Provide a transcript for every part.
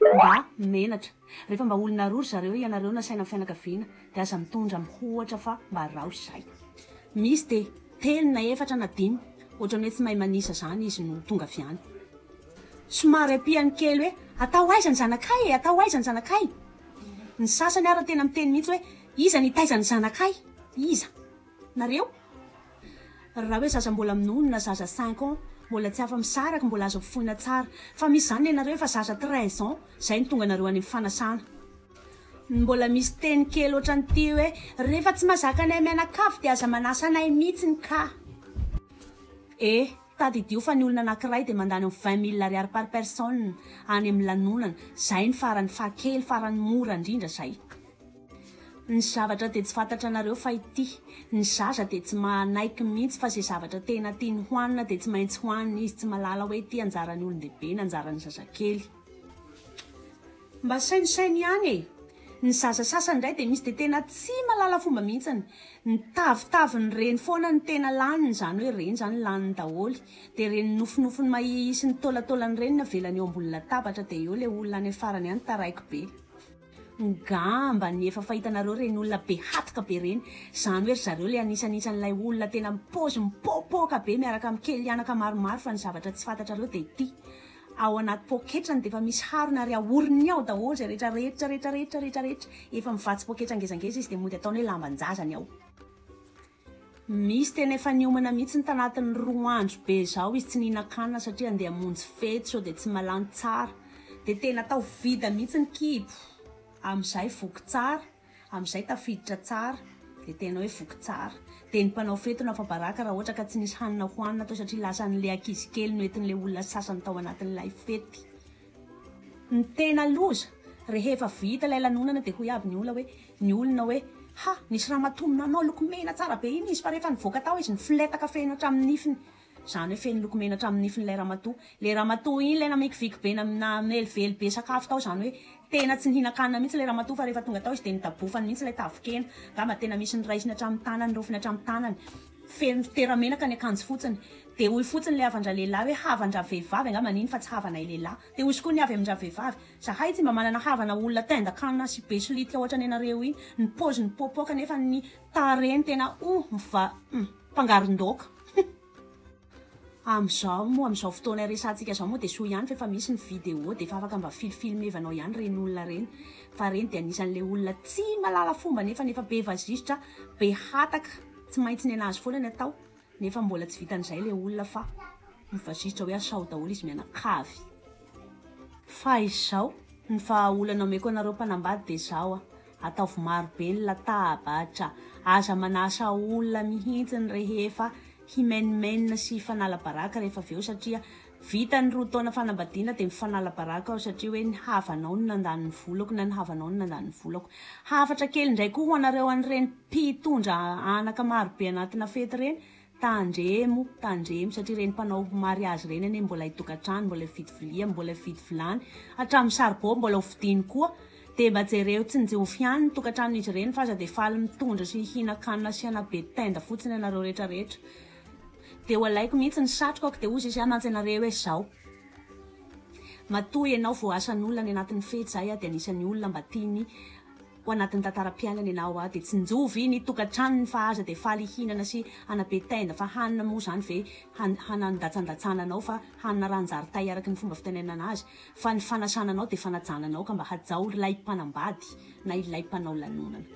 Mba menatra. Rehefa mba olona roa ry zareo ianareo nasaina ny fianakaviana dia aza mitondra mihoatra fa mba rao izay. Misy dia telo na efatra na dimy ohatrany hoe tsy mahay manisa zany izy no tonga avy any. Somary ampiany kely hoe atao aiza ny zanakay e, atao aiza ny zanakay. Ny sasany ary tena miteny mihitsy hoe iza nitaiza ny zanakay, iza. nareo raha hoe zaza mbola minono na zaza cinq ans mbola tsy afa misaraky mbola azo ampifoina tsara fa misy zany nenareo efa zaza treize ans zay no tonga nareo any am fanasana ny mbola misy teny kely otrany ty hoe rehefa tsy mazaka anay mianakavy de aza manasa anay mitsiny ka eh tadidio fa ny olona anakiray de mandany am vingt mille ariary par personne any am lanonana zay ny farany faha kely farany mora ndrindra zay Ny zavatra dia tsy fantatra anareo fa ity. Ny zaza dia tsy manaiky mintsy fa ze zavatra tena tiany hoanina dia tsy maintsy hoaniny izy tsy malala hoe ity anjarany olondehibe na anjarany zazakely. Mba sainosaino ihany e! Ny zaza sasany indray dia misy dia tena tsy malala fomba mihintsiny. Ny tavitaviny reny foana ny tena laniny izany hoe reny izany laniny daholy. Dia reny nofinofiny mahia sy ny taolantaolany reny ny avelany eo ambony latabatra dia eo ilay olona any afarany any taraiky be. Ngamba ny efa fahitanareo ireny olona be hatoka be ireny, izany hoe ry zareo ilay anisan'isan'ilay olona tena mipaozy mipoapoaka be miaraka amin'ny kelianaka maromaro fa ny zavatra tsy fantatrareo dia ity, ao anaty poketrany dia efa misy harona ary ahorony ao daholo izay rehetra rehetra rehetra rehetra rehetra rehetra, efa mivatsy poketra ngezangeza izy dia mody ataony hoe lamban-jazany ao. Misy tena efa niomana mihitsy ny tanatin'ny roa andro be izao izy tsy nihinan-kanina satria andeha hamonjy fety sao dia tsy mahalany tsara. Dia tena atao vita mihitsy ny kibo. Amin'izay voky tsara, amin'izay tafiditra tsara, dia tena hoe voky tsara. Dia ny mpanao fety no afa-baraka raha ohatra ka tsy nisy hanina hohanina tao satria lasan'ilay ankizy kely noentin'ilay olona sasany tao anatin'ilay fety. Ny tena loza, rehefa vita ilay lanonana dia hoy aby ny olona hoe, ny olona hoe, ha, nisy ramatoa nanao lokomena tsara be iny izy fa rehefa nivoaka tao izy nifoletaka feno hatramin'ny nifiny. Izany hoe feno lokomena hatramin'ny nifiny ilay ramatoa. Ilay ramatoa iny ilay namikiviky be na namelively be sakafo tao izany hoe tena tsy nihinan-kanina mihitsy ilay ramatoa fa rehefa tonga tao izy dia nodabofany mihitsy ilay tavin-kena. Angamba tena misy niraisiny hatramin'ny tanany, niraofiny hatramin'ny tanany. Feno litera menaka ny akanjo fotsiny. Dia hoy fotsiny ilay havan-dralehilahy hoe havan-dravehivavy angamba an'iny fa tsy havanay lehilahy. Dia hoy koa ny avy amin-dravehivavy, zahay tsy mba manana havana olona tendan-kanina sy be solitika ohatran'ny anareo iny. Ny paoziny mipoapoaka nefa ny tarehiny tena oh! Miva, humm, mpangaron-daoka. Amizao moa amizao fotoana iresahantsika izao moa dia soa ihany fa efa misy ny vidéo dia efa afaka mba fil filmevanao ihany reny olona reny fa reny dia anisany le olona tsy malala fomba nefany efa be vazisitra be hataka tsy maintsy ny anazy foana ny atao nefa mbola tsy vitan'izay le olona fa mivazisitra hoe asao daholo izy mianakavy fa izao ny vahaolana omeko anareo mpanambady dia zao a Ataovy maro be ny latabatra. Aza manasa olona mihitsy ny rehefa himenimenina sy hifanala baraka rehefa avy eo satria vita ny roa taona fanambadiana dia mifanala baraka aho satria hoe ny havanao no nandany ny volako na ny havanao no nandany ny volako. Hafatra kely indray koa ho anareo an'ireny mpitondra anaka maro be anatina fety ireny, Tandremo, tandremo satria ireny mpanao mariazy ireny anie mbola hitokantrano, mbola hividy vilia, mbola hividy vilany, hatramin'ny saribao mbola hovidiany koa. Dia mba jereo tsinjovy ihany ny tokantranon'izy ireny fa aza dia faly mitondra sy hihinan-kanina sy hanao be tenda fotsiny ianareo rehetra rehetra. Dia ho alaiko mihitsy ny satrokako dia hozy izy hoe mantsy anareo hoe izao, matoa ianao voasan'olona any anatin'ny fety, izaho dia anisan'ny olona mba tiany, Ho anatin'ny tantaram-piainany ianao hoa dia tsinjovy ny tokantranony fa aza dia faly hihinana sy hanabe tenda fa hanina moa izany ve hanandatsandatsana anao fa hanina ranjaritay araka ny fomba fitenenana azy fa ny fanasana anao dia fanajana anao ka mba hajao rilay mpanambady na ilay mpanao lanonana.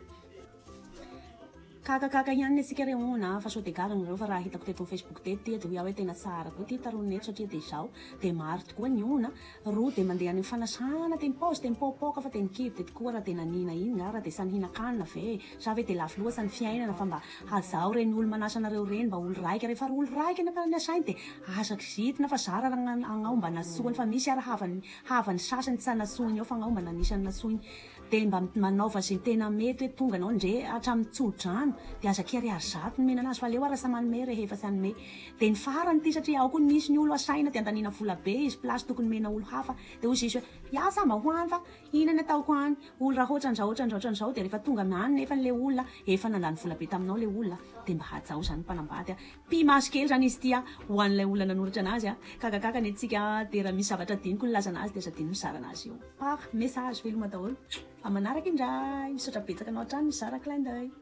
Kakakaka ihany ne sika re hon a fa sao de gaga nareo fa raha hitako teto am facebook teto ty edy hoy aho hoe tena tsara koa ty tarono eto satria de zao de maro tokoa ny hon a roa de mandeha any am fanasana de mipaozy de mipaopaoka fa de ny kibo de tokoa raha de nanina iny nga raha de samy hinakanina ve e sa ve de lafo loatsa ny fiainana fa mba hazaho reny olo manasa anareo reny mba olo raika refa ry olo raika ny akanany asainy de aza kizitina fa zara raha agnao mba nasoany fa misy ara havany havany sasany tsy anasoiny ao fa agnao mba nanisany nasoiny Dia mba manaova izay tena mety hoe tonga anao ndre hatramin'ny tsodrano dia aza kere ary zato no menana azy fa aleo ary lasa manome rehefa tsy hanome dia ny farany ity satria ao koa ny misy ny olo asaina dia andaniana vola be izy place tokony mena olo hafa dia hozy izy hoe hiasa mba ho any fa ina ny ataoko any olo raha otran'zao otran'zao otran'zao dia rehefa tonga any nefa ilay olona efa nandany vola be taminao ilay olona dia mba hajao izany mpanambady a. Pi-maso kely zany izy ity ho an'ilay olona nanoratra anazy, kagakaka ny antsika dia raha misy zavatra adinoko ny lazana azy dia aza adino mizara anazy eo par message, veloma daholo fa manaraka indray, misaotra betsaka anao hatrany nizara clin d'oeil.